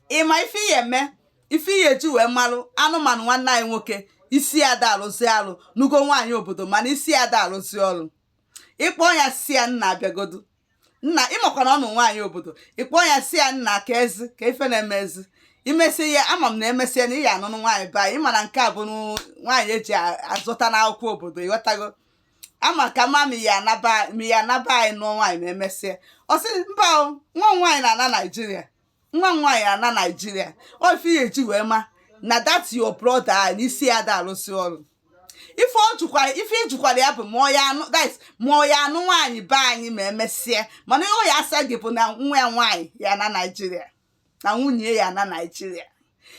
ịma ife ị ya eme ife ị ya eji wee malụ anụmanụ nwanne anyị nwoke isi ya da alụzi alụ nụgo nwaanyị obodo mana isi ya da alụzi ọlụ ịkpọ ya si ya nnaa bịagodu nna ị makwa na ọ nụ nwaanyị obodo ịkpọ ya si ya nna ka ezi ka ife na-emezi imesịa ama m na emesịa na ị ya anụnụ nwaanyị be anyị ịma na nke a bụ nwaanyị eji azụta n'akwụkwọ obodo ịghọtago amaka m ma ị ya ana be anyị nụọ nwaanyị ma emesịa ọ sị mba o nwa m nwaanyị na-ana naijiria nwa m nwaanyị ya ana naijiria ọ ife ị ya eji wee ma na that your brother a na isi ya da arụzi ọrụ ife ịjụkwara ya bụ that's ma ọ ya anụ nwaanyị be anyị ma emesịa mana ọ ya asa gị bụ na nwa ya nwaanyị ya ana naijiria na nwunye ya ana naijiria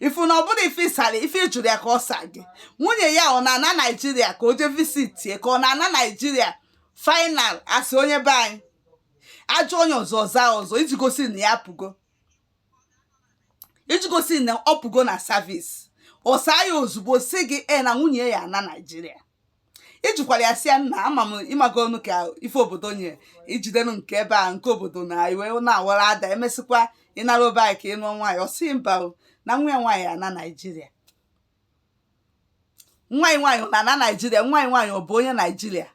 ifu na ọ bụrọ ife ịsara ife ịjụrụ ya ka ọ sa gị nwunye ya ọ na-ana naijiria ka o jee visitie ka ọ na-ana naijiria final asị onye be anyị ajụọ onye ọzọ ọ zaa ọzọ iji gosi na ya pụgo iji gosi na ọ pụgo na service ọ saa ya ozugbo si gị e na nwunye ya ana naijiria ịjụkwara ya si ya nna ama m ịmagonụ ka ife obodo nye ijidenu nke ebe a nke obodo na iwe na-awara ada emesịkwa ị narọ be anyị ka ị nụọ nwaanyị ọsị mba na nwa ya nwaanyị ana naijiria nwa gị nwaanyị na-ana naijiria nwa gị nwaanyị ọ bụ onye naijiria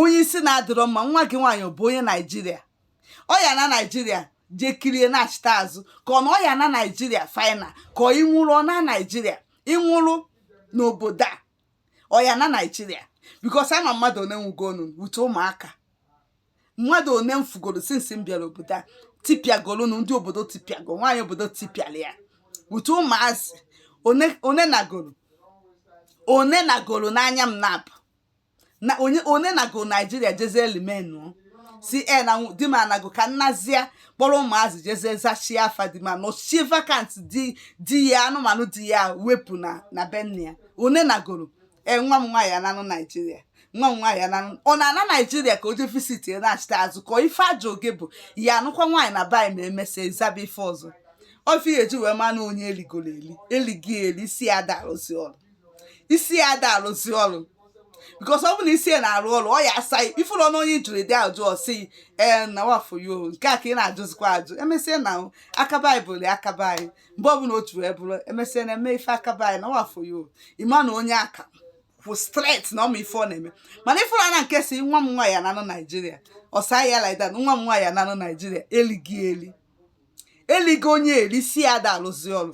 onye isi na-adịrọ mma nwa gị nwaanyị bụ onye naijiria ọ ya ana naijiria jee kirie nachịta azụ ka ọ na ọ ya ana naijiria final ka ọ ịnwụrụ ọ naa naijiria ịnwụrụ n'obodo a ọ ya ana naijiria because ama m mmadụ one nwụgonụ wute ụmụaka mmadụ one m fugoro since m bịara obodo a tipịagoro na ndị obodo tipịago nwaanyị obodo tipịara ya wute ụmụazị one one nagoro one nagoro n'anya m na-afụ na onye onye nago naijiria jezie n'ime ụnọ si e na di m anago ka m nazie kpọrọ ụmụazị jezie zachie afa di m nọchie vacancy di ya anụmanụ di ya wepụ na na be nna ya one nagoro e nwa m nwaanyị ananụ naijiria nwa m nwaanyị ananụ ọ na-ana naijiria ka o jee visitie nachịta azụ ka ife ajụ gị bụ ị ya anụkwa nwaanyị na be anyị ma emesịa ịzaba ife ọzọ ọ ife ị ya eji wee manụ onye eligoro eli elighị eli isi ya da alụzi ọrụ isi ya da alụzi ọrụ because ọ bụ na isi ya na-arụ ọrụ ọ ya asa ya ifurunụ onye jụrụ ụdị ajụ ọsị ee na wa for you o nke a ka ị na-ajụzikwa ajụ emesịa na o aka be anyị bụ ya aka be anyị mgbe ọbụla o ji wee bụrụ emesịa na eme ife aka be anyị na wa for you o ịma na onye a ka kwụ straight na ọ ma ife ọ na-eme mana ifuru na nke si nwa m nwaanyị ananụ naijiria ọ saa ya like that nwa m nwaanyị ananụ naijiria elighị eli eligo onye eli isi ya da alụzi ọrụ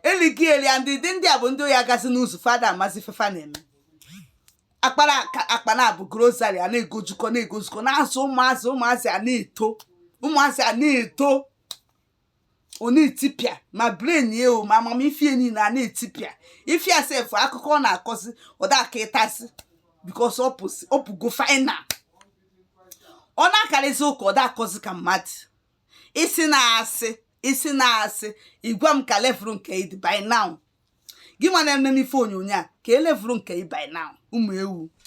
eli gị eli and ndị ndị a bụ ndị oyi agazi n'ụzọ fa da-amazi ife fa na-eme akpara aka- akpa na abụ grocery a na-egojukọ na-egozukọ na-azụ ụmụazị ụmụazị a na-eto ụmụazị a na-eto ọ na-etipịa ma brain ya o ma amamife ya niile a na-etipịa ife ya sef akụkọ ọ na-akọzi ọ da-aka ịtasị because ọ pụzi- ọ pụgo final ọ na-akarịzi ụka ọ da-akọzi ka mmadụ isi na-asị isi na-asị ị gwa m ka level nke ị dị by now gị nwa na-eme n'ife onyonyo a kee level nke ị by now ụmụ ewu